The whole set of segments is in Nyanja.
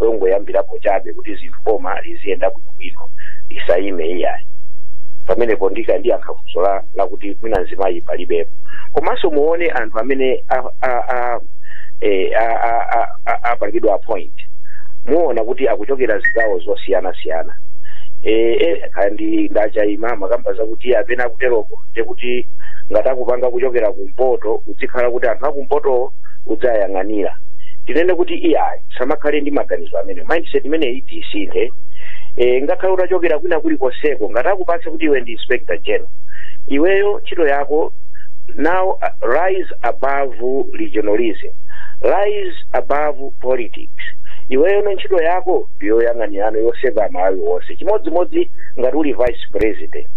longoyambirapo chabe kuti zinthu boma liziyenda bwinobwino lisayime iyayi pamenepo ndikha ndiyankha funso la lakuti mwina mzimayi palibepo komanso muone anthu amene a- a- a- eh, a- a- a- a- apangidwa appoint muona kuti akuchokera zigawo zosiyanasiyana Eh, eh, kandi a Ndachayima amakamba zakuti apena akuteroko ndekuti ngati akupanga kuchokera kumpoto kuzikhala kuti anthu akumpoto udzayang'anira tinene kuti iyayi tisamakhale ndi maganizo amene mindset imeneyi tiyisinthe e, ngakhale utachokera kwina kulikonseko ngati akupatsa kuti iwe ndi inspector general iweyo ntchito yako now uh, rise above regionalism rise above politics iweyo no ntchito yako ndiyoyang'anirano yoserva amalawi onse chimodzimodzi ngati uli vice president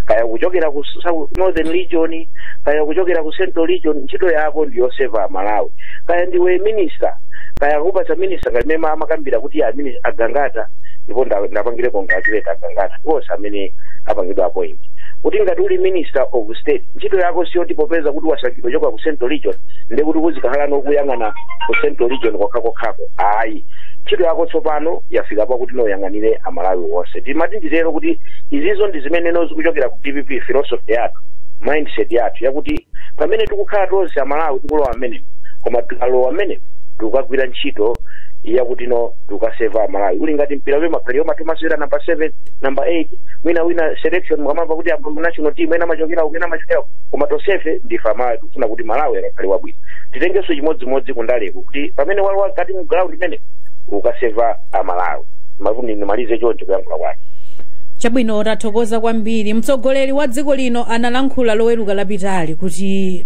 kaya kuchokera ku South- northern region kaya kuchokera ku ku central region ntchito yako ndi yoserva amalawi kaya ndiwe minister kaya akupatsa minister ngati mmene amakambira kuti a mini- a Gangata ndipo nda- ndiwapangire congratulate a Gangata ndi onse amene apangidwa appoint kuti ngati uli minister of state ntchito yako siyoti popeza kuti wasankhidwa kuchoka ku central region ndekuti uzikhala nokuyang'ana ku central region kokhakokhako ayi ntchito yako tsopano yafika pakuti no uyang'anire amalawi onse timati titero kuti izizo ndi zimene no zikuchokera ku dpp philosophy yathu mindset yathu yakuti pamene tikukhala tonse amalawi tikulowa mmenemo koma tikalowa mmenemo tikukagwira ntchito yakuti no tikukaserva amalawi uli ngati mpira ule ma player atomasewera namba 7 namba 8 mwina wina selection mukamamva kuti apa mu national team ena amachokera uku ena amachokera uku. koma tonsefe ndife amalawi tikufuna kuti malawi akakhale wabwino titengenso chimodzimodzi kundaleko kuti pamene walowa mkati mu ground limene ukaserva amalawi mavundi ndimalize choncho kuyankhula kwake chabwino tathokoza kwambiri kwambiri. Mtsogoleri wa dziko lino analankhula loweruka lapitali kuti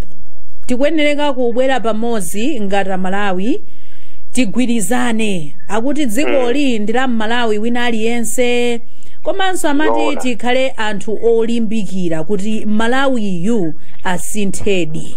tikuyenereka kubwera pamodzi ngati amalawi tigwirizane akuti dzikoli ndi la mmalawi wina aliyense komanso amati Zoona. tikhale anthu olimbikira kuti malawiyu asinthedi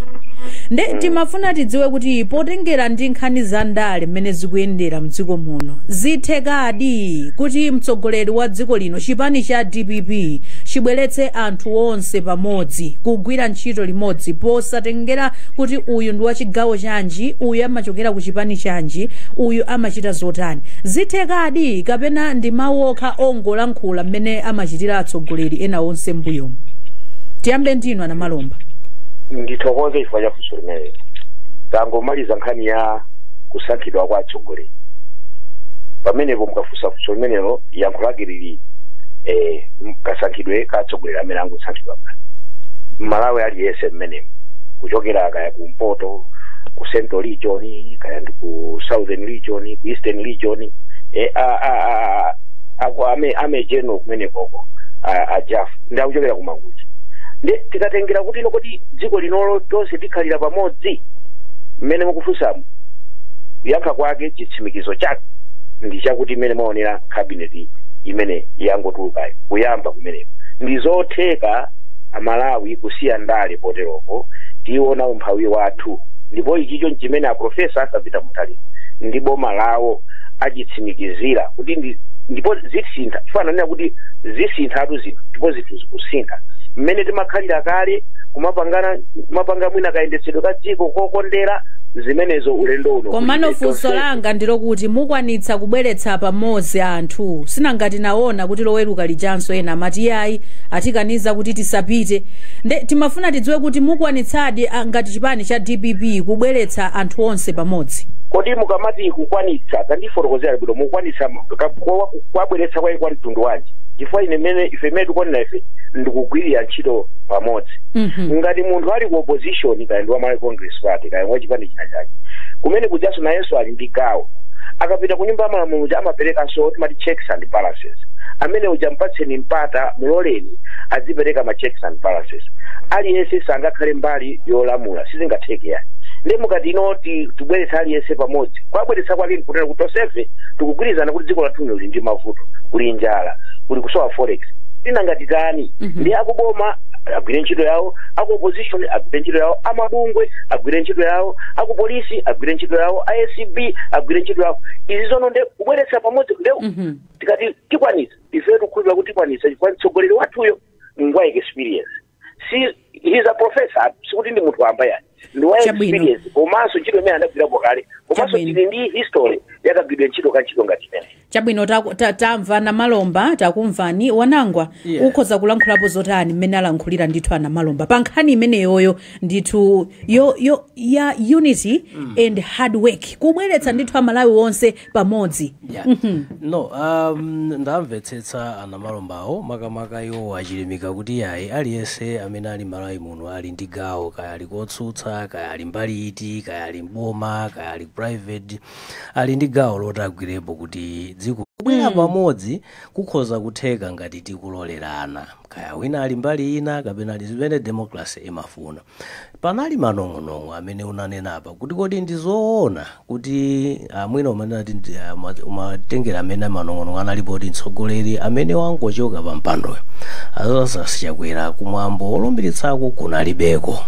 nde timafuna tidziwe kuti potengera ndi nkhani za ndale mmene zikuyendera mdziko muno zithekadi kuti mtsogoleri wa dziko lino lino chipani cha dpp chibweretse anthu onse pamodzi kugwira ntchito limodzi posatengera kuti uyu ndi wachigawo chanji uyu amachokera ku chipani chanji uyu amachita zotani zithekadi kapena ndi mawu okha ongolankhula mmene amachitira atsogoleri ena onse mbuyomu tiyambe ndinu a Namalomba ndithokoze chifukwa cha funso limenelo tangomaliza nkhani ya kusankhidwa kwa atsogoleri pamenepo mukafunsa funso limenelo yankho lake lili eh, kasankhidwe ka atsogoleri amene angosankhidwa pa mmalawi aliyense mmenemu kuchokera kaya kumpoto ku central region kaya ndi ku southern region ku eastern region eh, a, a, a, ako army army general kumene koko a- ajafu ndi akuchokera ku mangochi nde tikatengera kuti ino kuti dziko linolo tonse tikhalira pamodzi mmene mukufunsamu kuyankha kwake chitsimikizo chake ndi chakuti mmene mwaonera kabineti imene yangotulukayo kuyamba kumeneko ndi zotheka amalawi kusiya ndale poteropo tiona umphawi wathu ndipo ichicho nchimene aprofesa arthur peter mutharika ndi boma lawo achitsimikizira kuti ndi ndipo zisintha chifukwa ananena kuti zisinthatu zinthu ndipo zinthu zikusintha mmene timakhalira kale kumapangana kumapanga mwina kayendetsedwe ka dziko kokondera zimenezo ulendo uno komano kulibe funso langa ndilokuti mukwanitsa kubweretsa pamodzi anthu sinanga tinaona kuti loweruka lijanso ena amati yayi atikaniza kuti tisapite nde timafuna tidziwe kuti mukwanitsadi ah, ngati chipani cha dpp kubweretsa anthu onse pamodzi kodi mukamati kukwanitsa tandifotokozera bwino mukwanitsa ka- kwa- kwabweretsa kwake kwa mtundu wanji chifukwa ine mene ife mmene tikuonera ife ndikugwirira ntchito pamodzi Mhm. ngati munthu ali ku opposition kaya ndi wa malawi congress party kaya wa chipani china chake kumene kujaso nayenso ali ndi gawo akapita ku nyumba ya malamulo uja amaperekanso timati checks and balances amene uja mpatseni mpata muloleni adzipereka ma checks and balances aliyense sangakhale mbali yolamula sizingatheke yayi nde mukati ino ti- tibweretsa aliyense pamodzi kwabweretsa kwake nkutera kuti tonsefe tikugwirizana kuti dziko lathu lili ndi mavuto kuli njala kuli kusowa forex ti nanga titani Mhm. nde akuboma agwire ntchito yawo aku opposition agwire ntchito yawo amabungwe agwire ntchito yawo aku polisi agwire ntchito yawo a acb agwire ntchito yawo izizono nde kubweretsa pamodzi nde Mhm. tikati tikwanisa ife tikukhulupirira kuti tikwanisa chifukwa mtsogoleri wathuyo ngwa experience si he's a professor sikuti ndi munthu wamba yayi ndi wa Chabwino. experience komanso ntchito imene anagwirapo kale komanso Chabwino. tili ndi history ya kagwiridwe ntchito ka ntchito ngati imene chabwino taku- ta- tamva anamalomba takumvani wanangwa Yeah. ukhoza kulankhulapo zotani mmene alankhulira ndithu anamalomba pa nkhani imeneyoyo ndithu yo, yo, ya unity and hard work kubweretsa ndithu amalawi onse pamodzi Yeah. no um, ndamvetsetsa anamalombawo makamaka iwo achilimika kuti yayi aliyense amene ali malawi muno ali ndi gawo kaya ali kotsutsa kaya ali mbali iti kaya ali mboma kaya ali private ali ndi gawo loti agwirepo kuti dziko kubwera pamodzi kukhoza kutheka ngati tikulolerana kaya wina ali mbali ina kapena ali zimene democracy imafuna Panali manong'onong'o amene unanena apa kuti kodi ndi zoona kuti ah, mwina umanena kuti ndi, ah, ma- umatengera amene manong'onong'o analipo kuti mtsogoleri amene wangochoka pa mpandoyo a Lazarus Chakwera kumwambo olumbiritsako kunalibeko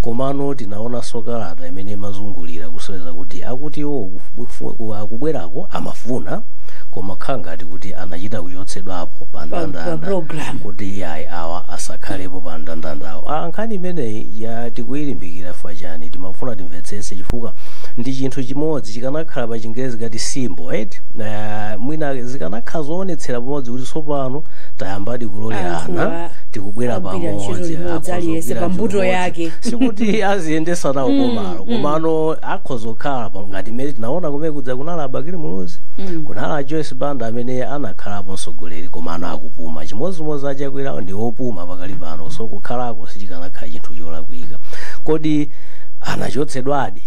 komano tinaonanso kalata imene imazungulira kusonyeza kuti akuti iwo kufu- ku- akubwerako amafuna koma khala ngati kuti anachita kuchotsedwapo pa ndandanda program. kuti yayi awa asakhalepo pa ndandandawo nkhani imeneyi tikuyilimbikira fwa chani timafuna timvetsese chifukwa ndi chinthu chimodzi chikanakhala pa chingerezi ngati symbol eti uh, mwina zikanakhala zoonetsera pamodzi kuti tsopano tayambadi kulolerana Anthuwa tikubwera agwira ntchito pamodzi imodzi, akhoza aliyense kugwira pa mbuto ntchito imodzi. yake. sikuti aziyendesa nawo komalo komano akhoza kukhala pa ngati mmene tinaona kumene kuja kunali a Bakili Muluzi Mm. kunali a joyce banda amene anakhalapo mtsogoleri komano akupuma chimodzimodzi achakwerawo ndi opuma pakali pano so kukhalako sichikanakhala chinthu cholakwika kodi anachotsedwadi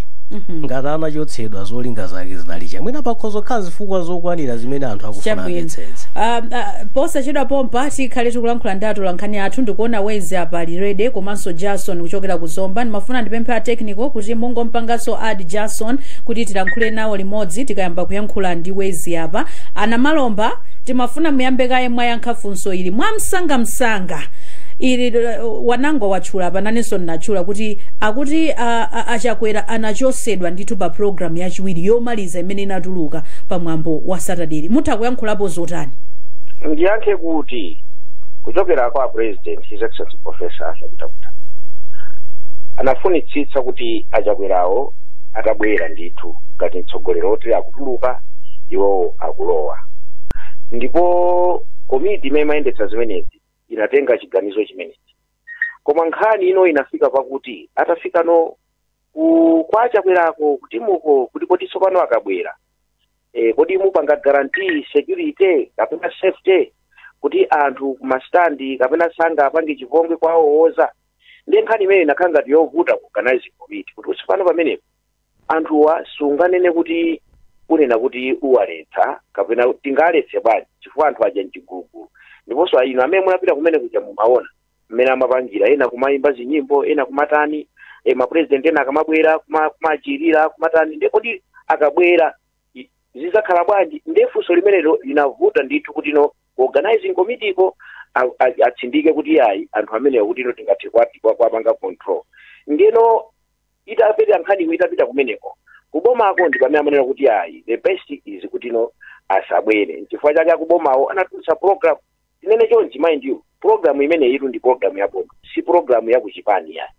ngati anachotsedwa zolinga zake zinali chani mwina pakhoza kukhala zifukwa zokwanira zimene anthu akufuna Chabwino. amvetsetse Um, uh, posachedwa pompa tikhale tikulankhula ndi atolankhani athu ndikuona wezi apa lirede komanso jason kuchokera ku zomba ndimafuna ndipemphe a technical kuti mungompanganso add jason kuti tilankhule nawo limodzi tikayamba kuyankhula ndi wezi apa a Namalomba timafuna muyambe kaye mwayankha funso ili mwamsangamsanga ili uh, Wanangwa watchula pano nanenso ndinatchula kuti akuti uh, uh, achakwera anachosedwa ndithu pa programu yachiwiri yomaliza imene inatuluka pa mwambo wa Saturday mutha kuyankhulapo zotani ndiyankhe kuti kuchokera kwa president president his excellency professor arthur Mutharika anafunitsitsa kuti achakwerawo atabwera ndithu ngati mtsogoleri woti akutuluka iwowo akulowa ndipo komiti imene imayendetsa zimenezi inatenga chiganizo chimenechi koma nkhani ino inafika pakuti atafika no ku- kwa achakwerawo ku timuko kuti kodi tsopano akabwera e, kodi mupanga guarantee security kapena safety kuti anthu kumastandi kapena sangapange chipongwe kuwawowoza ndi nkhani imene inakhala ngati yovuta ku organizing committee kuti tsopano pamenepo anthuwa sunganene kuti unena kuti uwaletsa kapena tingaletse bwanji chifukwa anthu aja mchigulugulu ndiponso inu amene munapita kumene kuja mumaona mmene amapangira ena kumayimba zinyimbo ena kumatani e, mapurezidenti ena akamabwera kuma- kumachemerera kumatani nde kodi akabwera i- zizakhala bwanji nde funso limenelo linavuta ndithu kuti no ku organizing committee ko a- a- atsindike kuti yayi anthu amenewa kuti no tingathe kwati kwa- kwapanga control ndeno itapita nkhaniyo itapita kumeneko kubomako ndi pamene amanena kuti yayi the best is kuti no asabwere nchifukwa chake akubomawo anatulutsa program tinene chonchi mind you program imeneyitu ndi program ya boma si program ya kuchipani ya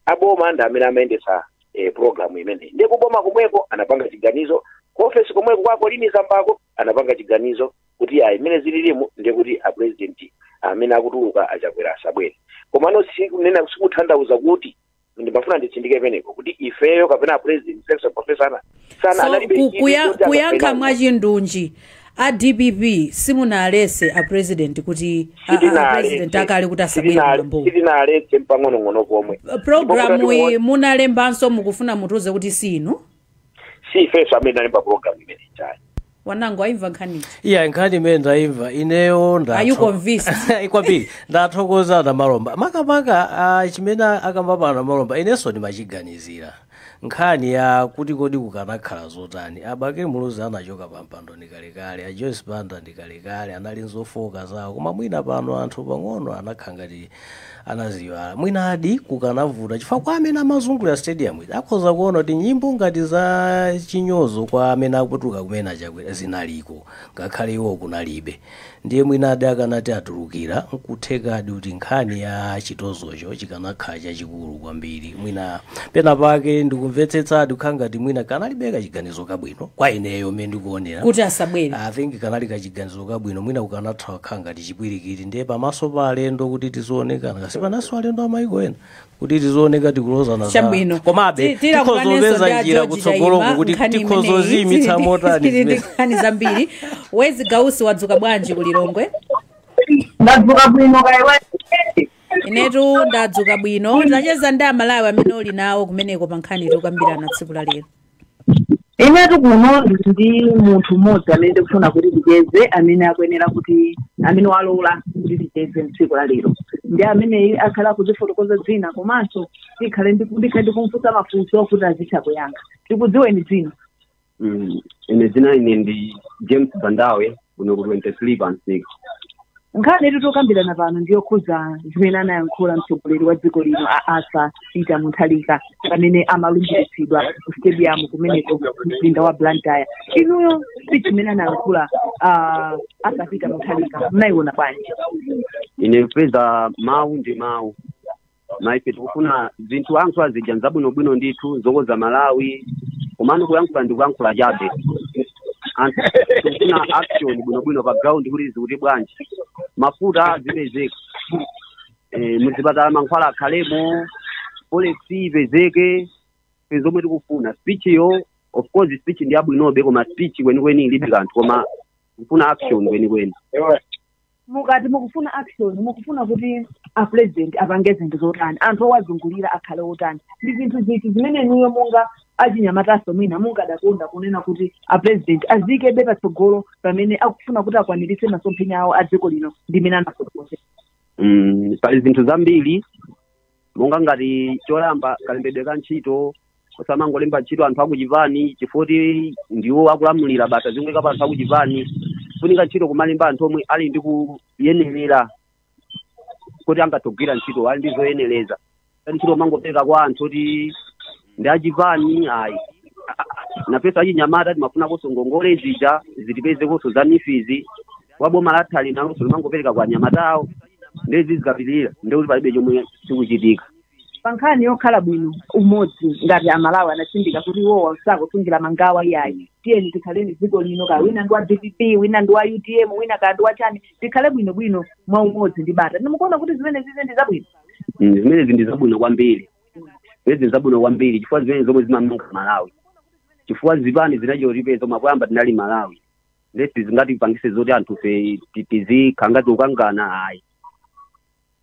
aboma ndi amene amayendetsa eh, program imeneyi ndiye kuboma komweko anapanga chiganizo ku ofesi komweko kwa a Colleen Zambako anapanga chiganizo kuti ya imene zililimu ndiye kuti a president amene akutuluka a Chakwera asabwere komano sikunena sikutanthauza kuti ndimafuna nditsindike penapo kuti ifeyo kapena a president His Excellency professor ana sana so analibe ku- chidwi kuya- choti kuyankha angapenane. mwachindunji a dpp simunaletse a president kuti a- a- a president akale kuti asabwere kumwambo sitinaletse mpang'ong'ono pomwe programu iyi munalembanso mukufuna mutiuze kuti sinu si ifeso amene tinalemba program imene Chaima wangoyimva nkhanizi iya nkhani imene ndayimva ineyo ndatho- Are you convinced? Ayi, kwambiri ndathokoza a Namalomba makamaka ah, chimene akamba pano a Namalomba inenso ndimachiganizira nkhani ya kuti kodi kukanakhala zotani a Bakili Muluzi anachoka pa mpando ndi kalekale a joyce banda ndi kalekale anali nzofooka zawo koma mwina pano anthu pang'ono anakhala ngati anaziiwala mwinadi kukanavuta chifukwa kwa amene amazungulira stadium ija akhoza kuona kuti nyimbo ngati za chinyozo kwa amene akutuluka kumene a Chakwera zinaliko ngakhale iwo kunalibe ndiye mwinadi akanati atulukira nkuthekadi kuti nkhani ya chitozocho chikanakhala chachikulu kwambiri mwina pena pake ndikumvetsetsadi kukhala ngati mwina kanalibebe kachiganizo kabwino kwa ineyo mmene ndikuonera kuti asabwere i think kanali kachiganizo kabwino mwina kukanatha kukhala ngati chipwirikiti ndiye pamaso pa alendo kuti tizioneka ngati kaya pamaso alendo a maiko ena kuti tizioneka tikulozana za- chabwino komabe Ti- tilankhulanenso ndi tikhoza kupeza a njira George kutsogoloko Chaima, kuti nkhani imeneyi. tikhoza kuziyimitsa Tili- motani tili ndi zimene nkhani zambiri Wezi Gausi wadzuka bwanji ku lilongwe ndadzuka bwino kaya iwe inetu ndadzuka bwino tacheza ndi amalawi amene uli nawo kumeneko pa nkhani tikukambirana tsiku la lero inetu kuno ndili ndi munthu mmodzi amene ndikufuna kuti ticheze amene akuyenera kuti amene walola kuti ticheze mtsiku la lero ndi amene akhale akudzifotokoza dzina komanso tikhale ndi- ndikhale ndikumfunsa mafunso kuti azitha kuyankha tikudziweni dzina Mm, ine dzina ine ndi james bandawe kuno ku 23 pa msika nkhani yetu tokambirana pano ndi yokhudza zimene anayankhula mtsogoleri wa dziko lino a Arthur Peter Mutharika pamene amalumbiritsidwa ku stadium kumeneko mumzinda wa blantyre inuyo speech imene anayankhula a Arthur Peter Mutharika munayiona bwanji ine kupeza mawu ndi mawu koma ife tikufuna zinthu ayankhula zija nzabwinobwino ndithu zokonza malawi komano kuyankhula ndi kuyankhula chabe anthu tikufuna action bwinobwino pa ground kuti zikuti bwanji mafuta azipezeka eh, muzipatala mankhwala akhalemo polisi ipezeke ife zomwe tikufuna speech-yo of course speech ndiyabwinobe koma speech kwenikweni ilibe kanthu koma tikufuna action kwenikweni mukati mukufuna action mukufuna kuti a president apange zinthu zotani anthu owazungulira akhale otani ndi zinthu ziti zimene inuyo monga achinyamataso mwina mungadakonda kunena kuti a president aziikebe patsogolo pamene akufuna kuti akwaniritse masomphenya awo a dziko lino ndi mene anafotokoze Mm, pali zinthu zambiri monga ngati choyamba kalembedwe ka ntchito osamangolemba ntchito anthu akuchipani chifoti ndiwo akulamulira basa zingoika pa anthu akuchipani funika ntchito kumalemba anthu omwe ali ndi kuyenera kuti angathe kugwira ntchito ali ndi zoyenereza ntchito osamangopereka kwa anthu kuti ndi achipani ayi nafenso achinyamata timafunakonso ngongole zija zitipezekonso za mifizi wa boma lathali nalonso limangopereka kwa anyamata awo nde izi zikapitirira ndekuti palibe chomwe chikuchitika pa nkhani yokhala bwino umodzi ngati amalawi anatsindika kuti iwo sakusungira mangawa iyayi tiyeni tikhaleni dziko lino ka wina ndi wa dpp wina ndi wa utm wina ka ndi wa chani tikhale bwino bwino mwa umodzi ndi bata nde mukuona kuti zimenezi ndi zabwino Mm, zimenezi ndi zabwino kwambiri zedi zabwino kwambiri chifukwa zimenezo zomwe zimamanga malawi chifukwa zipani zinachita kutipeza koma poyamba tinali malawi nde sizingatipangise zoti anthu fe ti- tizikhala ngati tikukangana ayi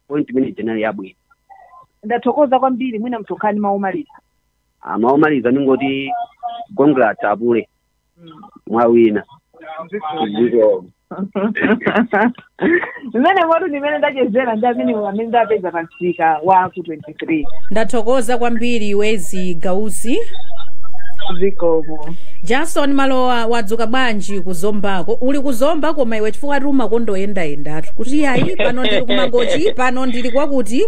point imene ija inali yabwino ndathokoza kwambiri mwina mtsukhani mawu omaliza mawu omaliza ndingoti congrats apule mwawina zikomo mmenemotu ndimene ndachezera ndi amene amene ndapeza pa msika wa ku 23 ndathokoza kwambiri wezzie gausi zikomo jason malowa wadzuka bwanji kuzombako uli kuzomba koma iwe chifukwa ati umakonda kuyendayendatu kuti iyayi pano ndili kumangochi pano ndili kwakuti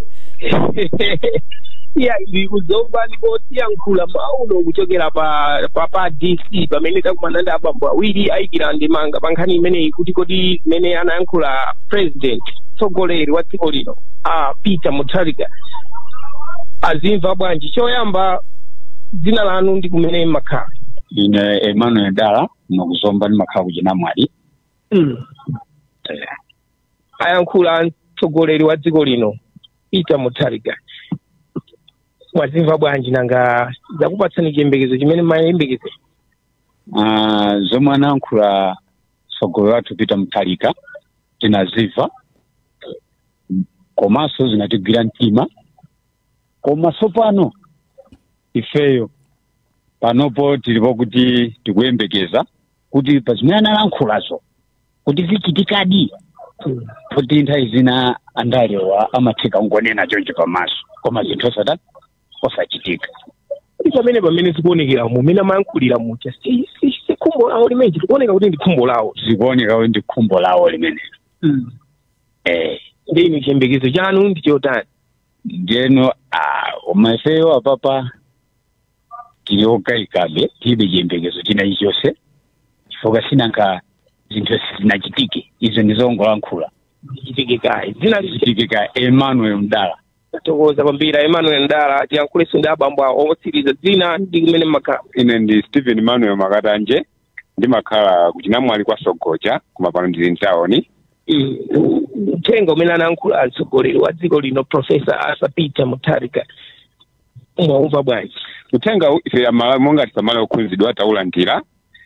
iya ndili kuzomba ndipo tikuyankhula mawa uno kuchokera pa pa, pa dc pamene takumana ndi abambo awiri ayikira ndemanga pa nkhani imeneyi kuti kodi zimene anayankhula president mtsogoleri wa dziko lino a peter mutharika azimva bwanji choyamba dzina lanu ndi kumene mumakhala ine emmanuel dala kuno kuzomba ndimakhala ku chinamwali mm. Eh, ayankhula mtsogoleri wa dziko lino peter mutharika mwazimva bwanji nanga zakupatsani chiyembekezo chimene mumayembekezera Ah, zomwe anayankhula mtsogoleri wathu peter mutharika tinazimva komanso zinatigwira mtima koma tsopano ifeyo panopo tilipo kuti tikuyembekeza kuti pa zimene analankhulazo kuti zichitikadi poti nthawi zina andalewa amatheka kungonena choncho pamaso koma zinthu osata osachitika kuti pamene pamene zikuonekera mumene amayankhulira muja si si- si khumbo lawo limene zikuoneka kuti ndi khumbo lawo zikuoneka kuti ndi khumbo lawo limenelo eh ndiye inu chiyembekezo chanu ndi chotani ndiyeno ah, koma ifeyo apapa tili okayikabe tilibe chiyembekezo china chilichonse chifukwa sinanga zinthu sizinachitike izo ndizongolankhula zichitike kaye dzina liti chitike ka emmanuel mdala tathokoza kwambiri emmanuel mdala tiyankhulenso ndi abambo awo otsiriza dzina ndi kumene mmakhala ine ndi stephen emmanuel makatanje ndimakhala kuchinamwali kwa sogoja koma pano ndili mtawoni Mm, uthenga umene anayankhula mtsogoleri wa dziko lino profesa arthur peter mutharika mwaumva bwanji uthenga uwu ife amalawi monga tisamala okhudzidwa taulandira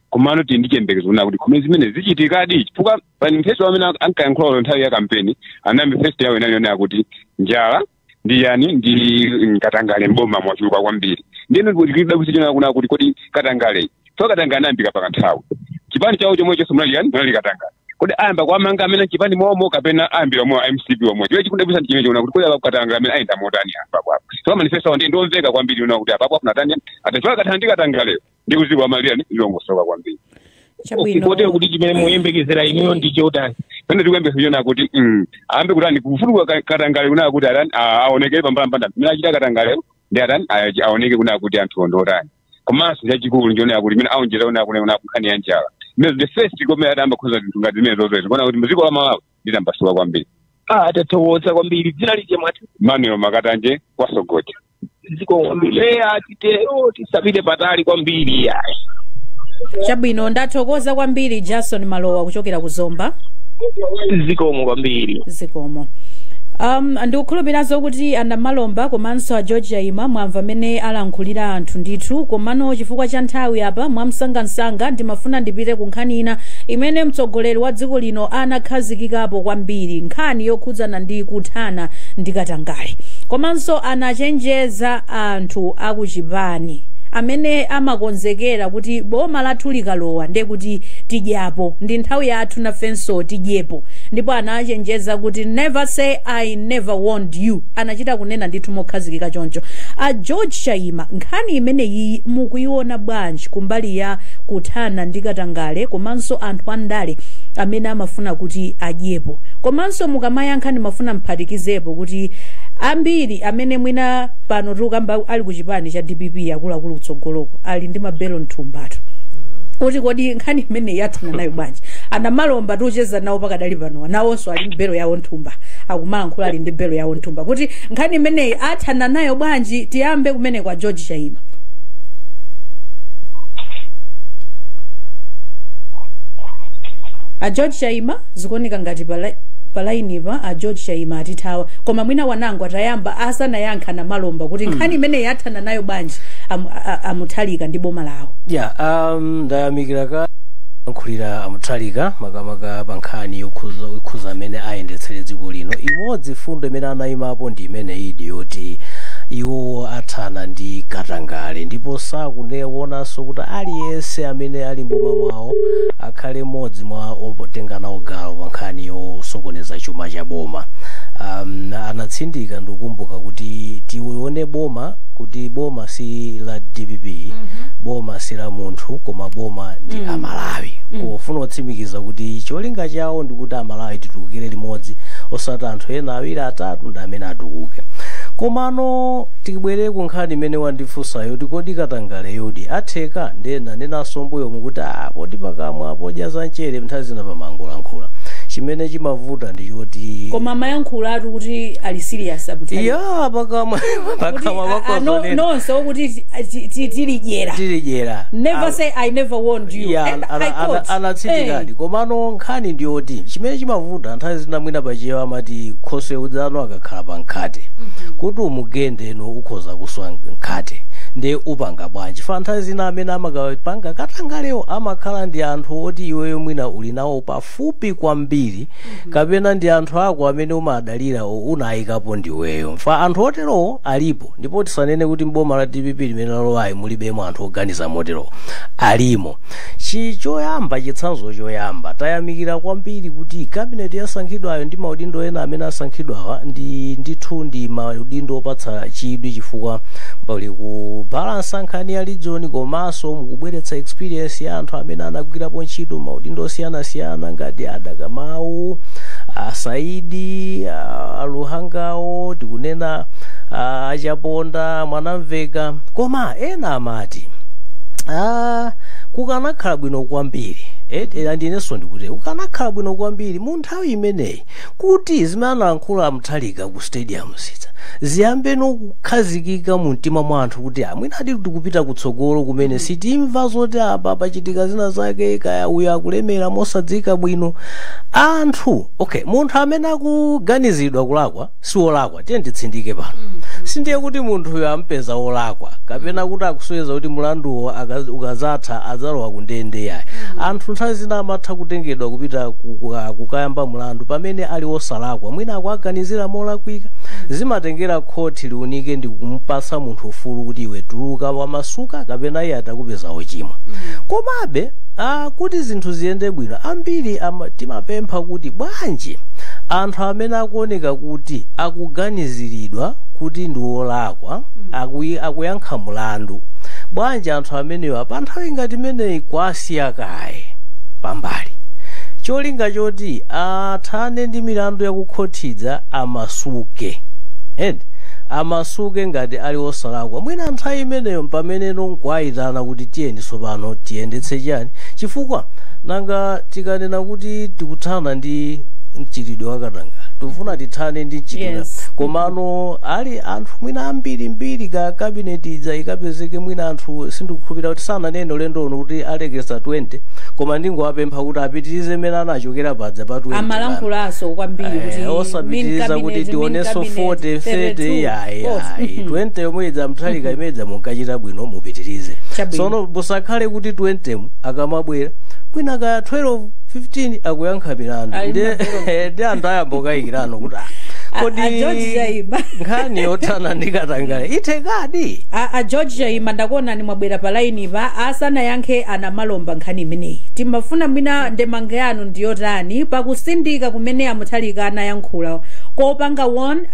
komano tili ndi chiyembekezo kunena kuti kumene zimene zichitikadi chifukwa pa manifesto amene ankayankhula ulo nthawi ya kampeni number first yawo inali yonena kuti njala ndi yani ndi mm, katangale mboma mwachuluka kwambiri ndiyeno ndikudabwitsa chonena kunena kuti kodi katangale so katangale anayambika pa kanthawi chipani chawo chomwechonso munali yani munali katangale kodi ayamba kuwamanga amene achipani momo kapena ayambira omwe a mcp omwe chimene chikundidabwitsa ndi chimene chonena kuti kodi apa katangale amene ayenda motani apa kwapo so manifesto awo ndi ndiomveka kwambiri kunena kuti apapo afuna tani atachoka katangale ndi katangale ndi kuti dziko la malawi lilongosoka kwambiri chabwino kotero kuti chimene muyembekezera inuyo ndi chotani chimene tikuyembekeza chonena kuti mm, ayambe kutani kufukula ka- katangale kunena kuti atani a- aonekere pambalambanda amene achita katangale ndi atani a- aoneke kunena kuti anthu awo ndi otani komanso chachikulu nchonena kuti imene aonjeza onera kuti onera kunkhani ya njala imene the first komera atayamba kukonza zinthu ngati zimene zozoezi kuona kuti muziko la malawi litambasuka kwambiri ah tathokoza kwambiri dzina lija mwati emmanuel makatanje kwa sogoja zikomo kwambiri eh atitero tisapite patali kwambiri ayi chabwino ndathokoza kwambiri jason malowa kuchokera ku zomba zikomo kwambiri zikomo um, ndikukhulupiranso kuti Moti a Namalomba komanso a George Chaima mwamva mene alankhulira anthu ndithu komano chifukwa cha nthawi apa mwamsangamsanga ndimafuna ndipite ku nkhani ina imene mtsogoleri wa dziko lino anakhazikikapo kwambiri nkhani yokhudzana ndi kuthana ndi katangale komanso anachenjeza anthu akuchipani amene amakonzekera kuti boma lathu likalowa ndiye kuti tidyapo ndi nthawi yathu nafenso tidyepo ndipo anachenjeza kuti never say i never warned you anachita kunena ndithu mokhazikika choncho a george chaima nkhani imeneyiyi mukuiona bwanji kumbali ya kuthana ndi katangale komanso anthu andale amene amafuna kuti adyepo komanso mukamayankha ndimafuna mphatikizepo kuti ambiri amene mwina pano tikukamba ali ku chipani cha dpp akuluakulu kutsogoloko ali ndi ma bail mthumbatu kuti kodi nkhani imeneyi athana nayo bwanji anamalomba tiucheza nawo pakadali panowa nawonso ali ndi bail yawo mthumba akumalankhula ali ndi bail yawo mthumba kuti nkhani imeneyi athana nayo bwanji tiyambe kumene kwa george chaima a george chaima zikuoneka ngati pala- palainipa a george chaima atithawa koma mwina wanangwa atayamba asanayankhe anamalomba kuti nkhani imeneyi athana nayo bwanji amu- a- a- amutharika ndi boma lawo yeah, um, ndayamikira kayankhulidwe ka amutharika makamaka pa nkhani yokhuza yokhuza amene ayendetsere dziko lino imodzi fundo imene anayimapo ndi imeneyi ndi yoti iwo athana ndi katangale ndipo sakufuna kuonanso kuti aliyense amene ali mboma mwawo akhale mmodzi mwa otenga nawo gawo pa nkhani yosokoneza chuma cha boma um, anatsindika ndikukumbuka kuti tione boma boma kuti boma si la dpp boma si la munthu koma boma ndi amalawi kufuna kutsimikiza kuti cholinga chawo ndi kuti amalawi titukukire limodzi osati anthu ena awiri atatu ndi amene atukuke komano tibwerere ku nkhani imene wandifunsa yoti kodi katangale yoti atheka ndinanenanso mbuyomu kuti ah poti pakamwa podya za mchere nthawi zina pamangolankhula chimene chimavuta ndi choti koma mmayankhula atu kuti ali serious apo tayamba pakamwa pakamwa Kuti, ah, ah, no- pakozonena nonse okuti ti- ti- ti- tilidyera tilidyera never say i never warned you Yeah, And ana- I ana- quote, anatsindikadi eh, komano nkhani ndiyoti chimene chimavuta nthawi zina mwina pachiyewa amati khoswe mudziwa akakhala pa mkhate kuti umugende no ukhoza kuswa mkhate ndiye upanga bwanji chifukwa nthawi zina amene amakapanga katangalewo amakhala ndi anthu oti iweyo mwina uli nawo pafu pafupi kwambiri kapena ndi anthu ako amene umadalira o- unayikapo ndiweyo chifukwa anthu oterowo alipo ndipo tisanene kuti mboma la dpp limene lalowayi mulibemo anthu oganiza moterowo alimo chi choyamba chitsanzo choyamba tayamikira kwambiri kuti kabineti yasankhidwayo ndi maudindo ena amene asankhidwawa ndi ndithu ndi maudindo opatsa chidwi chifukwa pali kubalansa nkhani ya region komanso komanso mukubweretsa experience ya anthu amene anagwirapo ntchito maudindo osiyanasiyana ngati a dr mau asaidi a- aluhangawo tikunena a- achaponda mwanamveka koma ena amati Ah, kukanakhala bwino kwambiri eh, eh, ndi inenso ndikuti kukanakhala bwino kwambiri mu nthawi imeneyi kuti zimene analankhula a Mutharika ku stadium zija ziyambeno kukhazikika mu mtima mwa anthu kuti "Ah, mwinadi tikupita kutsogolo kumene sitimva zoti apa pachitika zina zake kaya uyu akulemera mosadziwika bwino anthu okay munthu amene akuganizidwa kulakwa si wolakwa tiye nditsindike pano sindiye kuti munthuyo ampeza wolakwa kapena kuti akusonyeza kuti mulanduwo aka- ukazatha adzalowa ku ndende yayi anthu nthawi zina amatha kutengedwa kupita ku- kuka- kukayamba mulandu pamene ali wosalakwa mwina akuwaganizira molakwika zimatengera khoti liunike ndi kumpasa munthu ufulu kuti iwe tuluka wamasuka kapena iye atakupeza wochimwa komabe ah, kuti zinthu ziyende bwino ambiri ama- timapempha kuti bwanji anthu amene akuoneka kuti akuganiziridwa kuti ndi wolakwa akuyi- akuyankha mulandu bwanji anthu amenewa pa nthawi ngati imeneyi kwasiya kaye pambali cholinga choti athane ndi milandu yakukhoti ija amasuke and amasuke ngati ali osalakwa mwina nthawi imeneyo mpamene nkwayitana kuti tiyeni tsopano tiyendetse chani chifukwa nanga tikunena kuti tikuthana ndi mchitidwe wa katangale tikufuna tithane ndi mchitidwe Yes. komano ali anthu mwina ambiri mbiri ka kabineti ija ikapezeke mwina anthu sindikukhulupirira kuti sananene ulendo uno kuti alekesa 20 koma ndingowapempha kuti apitirize mmene anachokera paja pa 20 amalankhulaso kwambiri Eh, kuti osapitiriza min kuti cabinet, min tionenso cabinet, 40 30 32, iyayi oh, ayi mhm. 20 yomwe ija a Mutharika mmene mja munkachita bwino mupitirize Chabwino. sono musakhale kuti 20 mu akamabwera mwina ka 12 15 akuyankha milandu Ali ndi mabelo. ndi anthu ayamba kukayikirano kuti ah, A- kodi a George Chaima. nkhani yothana ndi katangale ithekadi a, a george chaima ndakuonani mwabwera pa laini pa asanayankhe a Namalomba nkhani imeneyi timafuna mwina ndemanga yanu ndiyotani pakusindika kumene a Mutharika anayankhula kopanga warn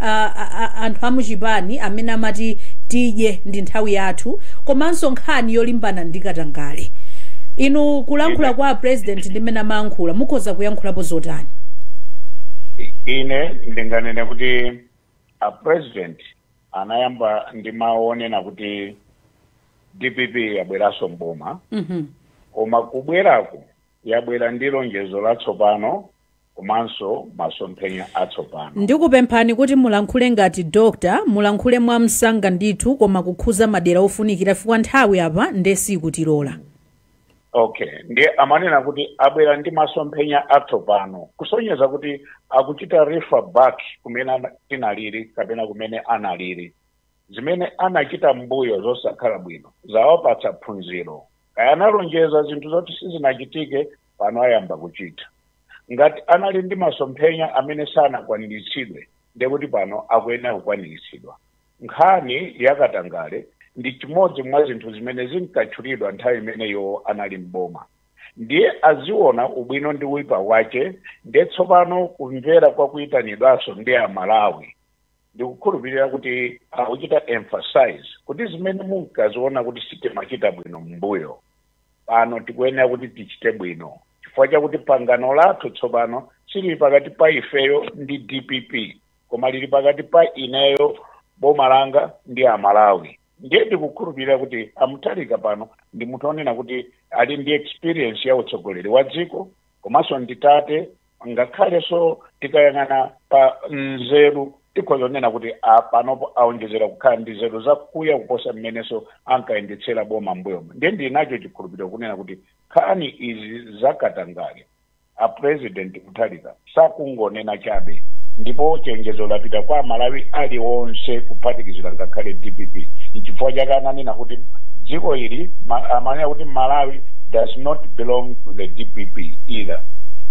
anthu amuchipani amene amati tidye ndi nthawi yathu komanso nkhani yolimbana ndi katangale inu kulankhula kwa a president ndi mmene amayankhula mukhoza kuyankhulapo zotani ine ndinganene kuti a president anayamba ndi mawu onena kuti dpp yabweranso mboma mhm koma kubwerako yabwera ndi lonjezo latsopano komanso masomphenya atsopano. Ndikupemphani kuti mulankhule ngati Doctor, mulankhule mwamsanga ndithu koma kukhuza madera ofunikira chifukwa nthawi apa nde siikutilora. Okay, ndiye amanena kuti abwera ndi masomphenya atsopano kusonyeza kuti akuchita refer back kumene ana- tinalili kapena kumene analili zimene anachita mbuyo zosakhala bwino zawapatsa phunziro kaya analonjeza zinthu zoti sizinachitike pano ayamba kuchita ngati anali ndi masomphenya amene sanakwaniritsidwe ndekuti pano akuyenera kukwaniritsidwa nkhani yakatangale ndi chimodzi mwa zinthu zimene zinkatchulidwa nthawi imene iwo anali mboma ndiye aziona ubwino ndi uipa wake ndiye tsopano kumvera kwa kuyitanidwanso ndi amalawi ndikukhulupirira kuti akuchita emphasize kuti zimene munkaziona kuti sitimachita bwino m'mbuyo pano tikuyenera kuti tichite bwino chifukwa chakuti pangano lathu tsopano silili pakati pa ifeyo ndi dpp koma lili pakati pa ineyo boma langa ndi amalawi ndiye ndikukhulupirira kuti amutharika pano ndi munthu onena kuti ali ndi experience ya utsogoleri wa dziko komanso ndi tate ngakhalenso tikayang'ana pa nzeru tikhoza kunena kuti panopo aonjezera kukhala ndi nzeru zakuya kuposa mmenenso ankayendetsera boma mbuyomo ndiye ndili nacho chikhulupiriro kunena kuti nkhani izi zakatangale a president mutharika sakungonena chabe ndipo chenjezo lapita kwa amalawi alionse kuphatikizira ngakhale dpp nchifukwa chake ananena kuti dziko ili ma- amanena kuti malawi does not belong to the dpp either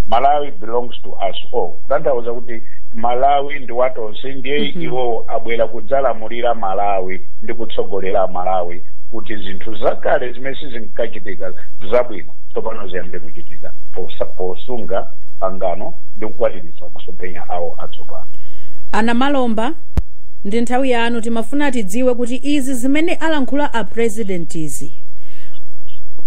malawi belongs to us all kutanthauza kuti malawi ndi watonse ndiye Mhm. iwowo abwera kudzalamulira malawi ndi kutsogolera malawi kuti zinthu zakale zimene sizinkachitika za bwino tsopano ziyambe kuchitika posa- posunga pangano ndi kukwaniritsa masomphenya awo atsopano anamalomba ndi nthawi yanu timafuna tidziwe kuti izi zimene alankhula a president izi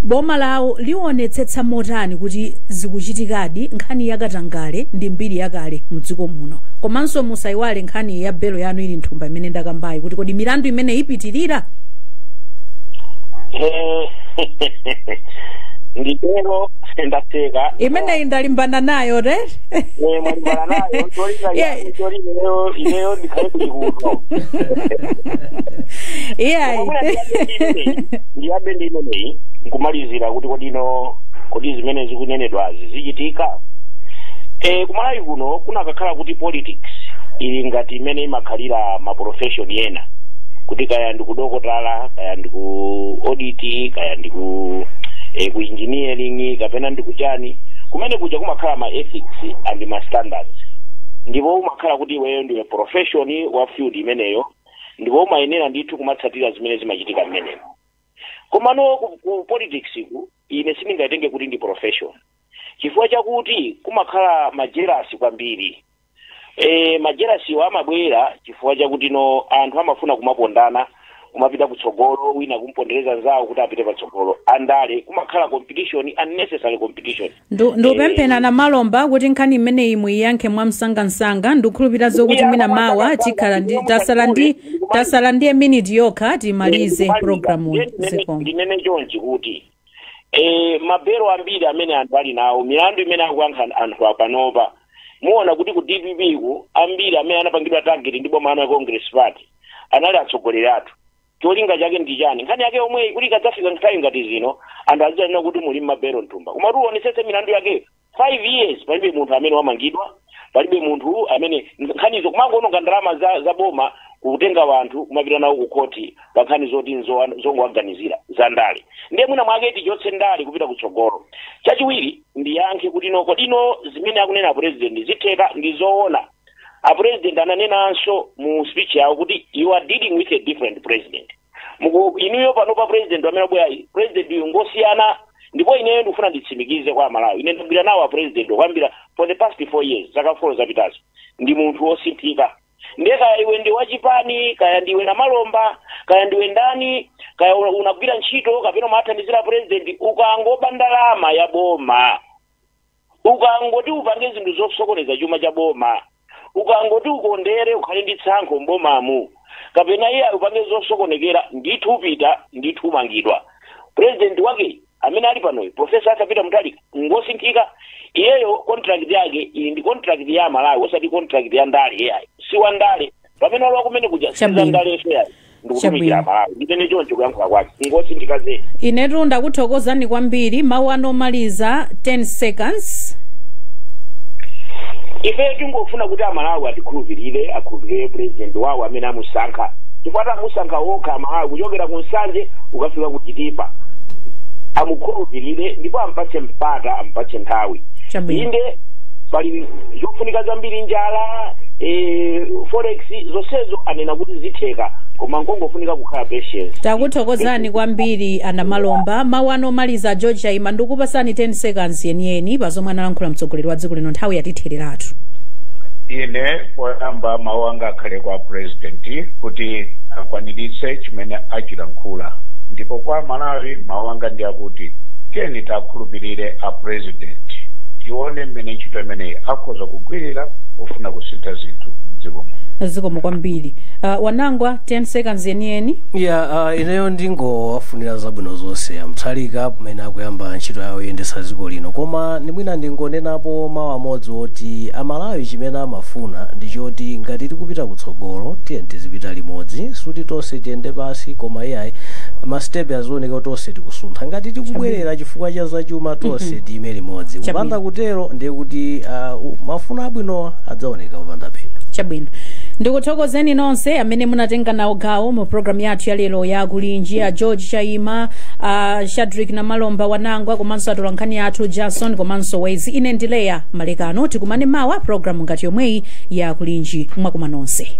boma lawo lionetsetsa motani kuti zikuchitikadi nkhani yakatangale ndi mbiri yakale mdziko muno komanso musayiwale nkhani ya belo yanu ili nthumba imene ndakambayi kuti kodi milandu imene ipitirira Eh, nditero ndatheka imeneyi ndalimbana nayo te Eh, mwalimbana nayo ntolinga Yeah. yangu ntori ineyo ineyo ndikhale kulikuno iyayi Mwina ndiyambe ndi imeneyi, ndiyambe ndi imeneyi nkumalizira kuti kodino kodi zimene zikunenedwazi zichitika e, kumalawi kuno kunakakhala kuti politics ili ngati imene imakhalira maprofession ena kuti kaya ndikudokotala kaya ndiku audit kaya ndiku eh, ku engineering kapena ndikuchani kumene kuja kumakhala ma ethics and ma standards ndipo umakhala kuti iweyo ndiwe profession wa field imeneyo ndipo umayenera ndithu kumatsatira zimene zimachitika mmenemo komano ku, ku politics ku ine sindingayitenge kuti ndi profession chifukwa chakuti kumakhala majerasi kwambiri e, majelasiwa amabwera chifukwa chakuti no anthu amafuna kumapondana kumapita kutsogolo wina kumpondereza nzawo kuti apite patsogolo andale kumakhala competition unnecessary competition Ndu- ndupempha a Namalomba kuti nkhani imeneyi muiyankhe mwamsangamsanga ndikukhulupirira zokuti Iya, mwina mawa mwamsangamsanga, tikhala ndi ndikumamuka tasala ndi kule, ndikumamuka. tasala ndi miniti yokha timalize programu Ndinene- zikomo ndinene chonchi kuti eh, mabelo ambiri amene anthu ali nawo milandu imene akuyankha anthu apanopa muona kuti ku dpp ku ambiri amene anapangidwa target ndi boma ana ya congress party anali atsogoleri athu cholinga chake ndi chani nkhani yake yomweyi kuti ikadzafika nthawi ngati zino anthu azidzanena kuti muli mmabelo mthumba koma kuti uonetsetse milandu yake five years palibe munthu amene wamangidwa palibe munthu amene nkhanizo kumangoononga ndalama za, za boma kutenga wanthu kumapita nawo ku khoti pa nkhani zoti nzo- zongowaganizira za ndale ndiye mwina mwake tichotse ndale kupita kutsogolo chachiwiri ndiyankhe kuti no kodino zimene akunena apresident zitheka ndi zoona apresident ananenanso mu speech yawo kuti you are dealing with a different president Muku- inuyo pano pa president amene abwerayi president uyu ngosiyana ndipo ineyo ndikufuna nditsimikize kwa amalawi ine ndagwira nawo a president kuyambira for the past four years zaka four zapitazi ndi munthu wosinthika ndiye kaya iwe ndi wachipani kaya ndiwe namalomba kaya ndiwe ndani kaya una- unagwira ntchito kapena umathandizira president ukangoba ndalama ya boma ukangoti upange zinthu zosokoneza chuma cha boma ukangoti ukondere ukhale ndi tsankho m'bomamu kapena iyayi upange zosokonekera ndithu upita ndithu umangidwa purezidenti wake amene ali panoyu profesa Arthur Peter Mutharika ngosinthika iyeyo contract yake ili ndi contract ya amalawi osati contract ya ndale iyayi si wa ndale pamene walowa kumene kuja Chabwino. si za ndale iyayi ndikutumikira Chabwino. malawi ndimene choncho kuyankhula kwake nkosinthika zedi inetu ndakuthokozani kwambiri mawu anu omaliza 10 seconds ife tingofuna kuti amalawi atikhulupirire akhulupirire purezidenti wawo amene amusankha chifukwa amusankha wokha amalawi kuchokera ku nsanje ukafika ku chitipa amukhulupirire ndipo ampatse mpata ampatse nthawi Chabwino. inde pali zofunika zambiri njala eh, forex zonsezo anena kuti zitheka koma nkongofunika kukhala patience takuthokozani kwambiri anamalomba mawu anu omaliza a george chaima ndikupatsani 10 seconds yeniyeni pa zomwe analankhula mtsogoleri wa dziko lino nthawi yatithereratu ine poyamba mawu anga akhale kwa purezidenti kuti akwaniritse chimene achilankhula ndipo kwa amalawi mawu anga ndi akuti tiyeni ta awakhulupirire a president tione mmene ntchito imeneyi akhoza kugwirira pofuna kusintha zinthu mdziko muno zikomo kwambiri uh, wanangwa 10 seconds yeniyeni ya uh, ineyo ndingowafunira zabwino zonse a Mutharika pamene akuyamba ntchito yawo yoyendesa dziko lino koma mwina ndingonenapo mawu amodzi oti amalawi chimene amafuna ndi choti ngati tikupita kutsogolo tiyeni tizipita limodzi sikuti tonse tiyende pansi koma iyayi masitepe azione kuti tonse tikusuntha ngati tikubwerera chifukwa cha zachuma tonse tiime limodzi Chabwino. kupanda kutero ndiye kuti ah, u- mafuno abwinowa adzaoneka kupanda phindu chabwino ndikuthokozeni nonse amene munatenga nawo gawo mu programu yathu ya lero ya kulinji a george chaima a shadreck namalomba wanangwa komanso atolankhani athu jason komanso wezi ine ndi leya malekano tikumane mawa programu ngati yomweyi ya kulinji mwakuma nonse